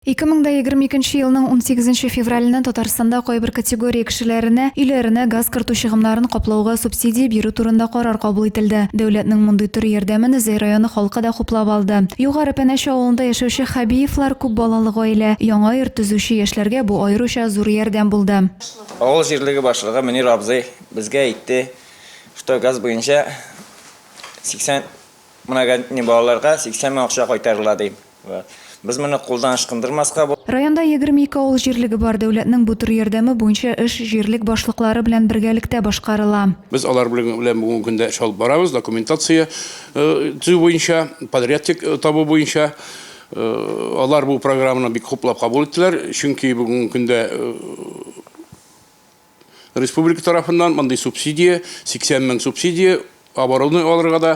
2022 нче елның 18 нче февраленнән Татарстанда кайбер категория кешеләренә өйләренә газ кертү чыгымнарын каплауга субсидия бирү турында карар кабул ителде. Дәүләтнең мондый төр ярдәмен Зәй районы халкы да хуплап алды. Югары Пәнәч авылында яшәүче Хәбиевлар күп балалы гаилә. Яңа йорт төзүче яшьләргә бу аеруча зур ярдәм булды. Авыл җирлеге башлыгы Мөнир абзый безгә әйтте, что газ буенча 80 многодетный балаларга 80 мең акча кайтарыла, ди. Без моны кулдан ычкындырмаска бу. Районда егерме ике авыл җирлеге бар, дәүләтнең бу төр ярдәме буенча эш җирлек башлыклары белән бергәлектә башкарыла. Без алар белән бүгенге көндә эш алып барабыз, документация төзү буенча, подрядчик табу буенча. Алар бу программаны бик хуплап кабул иттеләр, чөнки бүгенге көндә Республика тарафыннан мондый субсидия, 80 мең субсидия, оборудование алырга да,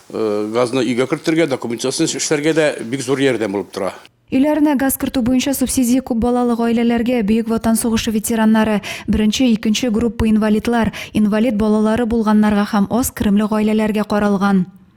газны өйгә кертергә, документация эшләргә дә бик зур ярдәм булып тора. Өйләренә газ кертү буенча субсидия күп балалы гаиләләргә, Бөек Ватан сугышы ветераннары, беренче, икенче группа инвалидлар, инвалид балалары булганнарга һәм аз керемле гаиләләргә каралган.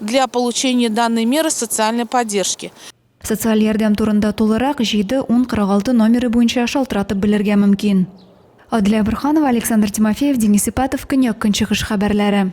Для получения данной меры социальной поддержки. Социаль ярдәм турында тулырак 7 10 46 номеры буенча шалтыратып белергә мөмкин. Адилә Борханова, Александр Тимофеев, Денис Ипатов, Көньяк-Көнчыгыш хәбәрләре.